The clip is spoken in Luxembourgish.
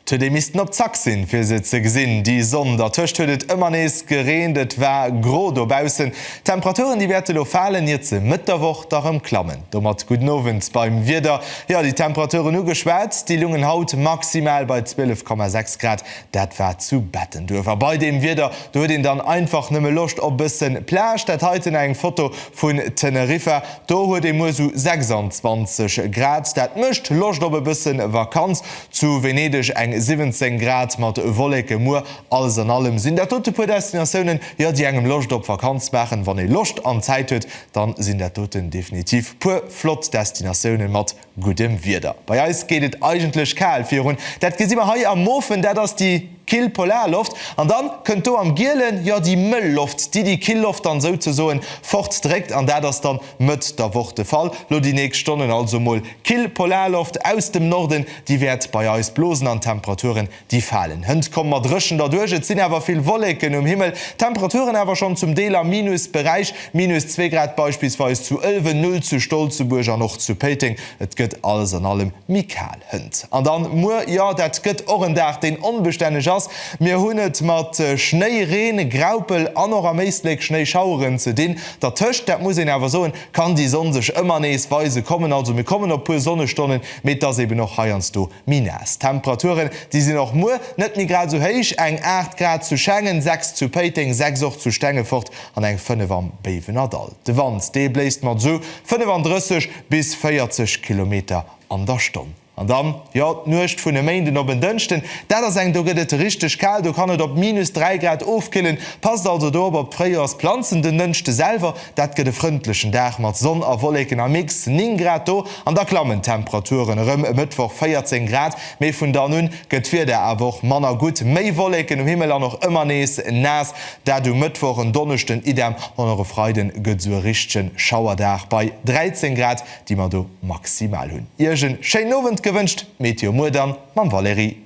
T, Dir missten op Zack sinn, fir se ze gesinn, déi Sonn. Dertëscht huet et ëmmer nees gereent. Et war gro dobaussen. D'Temperaturen, déi wäerte lo falen, ier ze Mëtt der Woch da rëm klammen. Domat gudden Owend beim Wieder. Jo, déi Temperaturen ugeschwat, déi lungen haut maximal bei 12,6 Grad. Dat war zu Bettenduerf a bei deem Wieder do huet een dann einfach nëmme Loscht op bëssen Plage. Dat heiten eng Foto vun Teneriffa. Do huet ee muer sou 26 Grad. Dat mécht Loscht op e bëssen Vakanz. Zu Venedeg eng 17 Grad mat Wolleke muer. Alles an allem sinn dat dote puer Destinatiounen, jo, déi engem Loscht op Vakanz maachen. Wann ee Loscht an Zäit huet, dann sinn dat doten definitiv puer flott Destinatiounen mat. guddem Wieder. Bei eis geet et eigentlech kal virun, dat gesi mer hei am Mofen, dat ass déi kill Polarloft, an dann kënnt do am gielen jo déi mëll Loft, déi déi kill Loft dann souzesoen fort dréckt, an dat ass dann Mëtt der Woch de Fall, lo déi nächst Stonnen. Also mol kill Polarloft aus dem Norden, déi wäert bei eis blosen an d'Temperaturen Déi falen. Hënt komm mat Rëschen derduerch. Et sinn awer vill Wolleken um Himmel. D'Temperaturen awer schonn zum Deel am Minusberäich, minus zwee Grad beispillsweis zu Ëlwen, Null zu Stolzebuerg an och zu Péiteng. Et gëtt alles an allem méi kal. Hënt an dann muer, jo dat gëtt och en Dag deen onbestänneg ass. Mir hunn et mat Schnéi, Reen, Graupel an och am Éisleck Schnéischaueren ze dinn. Dertëscht, dat muss een awer soen, kann déi Sonn sech ëmmer nees weise kommen. Also mir kommen op puer Sonnestonnen, mee et ass eben och heiansdo D'Minas, d'Temperaturen, déi sinn och muer net méi grad esou héich, eng 8 Grad zu Schengen, 6 zu Péiteng, 6 och zu Stengefort an eng 5 am Béiwenerdall. De Wand, dee bléist mat esou 35 bis 40 Kilometer an der Stonn. An dann, jo, d'Nuecht vun e Méinden op en Dënschden, dat ass eng, do gëtt et richteg kal, do kann et op minus 3 Grad ofkillen. Passt also do op, op d'Fréijoersplanzen den Dënschde selwer. Dat gëtt e frëndlechen Dag mat Sonn a Wolleken a mix 9 Grad do an da klammen d'Temperaturen erëm, e Mëttwoch 14 Grad. Mee vun dann un gëtt d'Wieder awer och manner gutt, méi Wolleken um Himmel an och ëmmer nees naass. Dat um Mëttwoch, en Donneschden idem an och e Freiden gëtt sou e richtegen Schauerdag bei 13 Grad, déi mer do maximal hunn. Iech en schéinen Owend gewënscht, d'Meteo muer dann mam Valérie.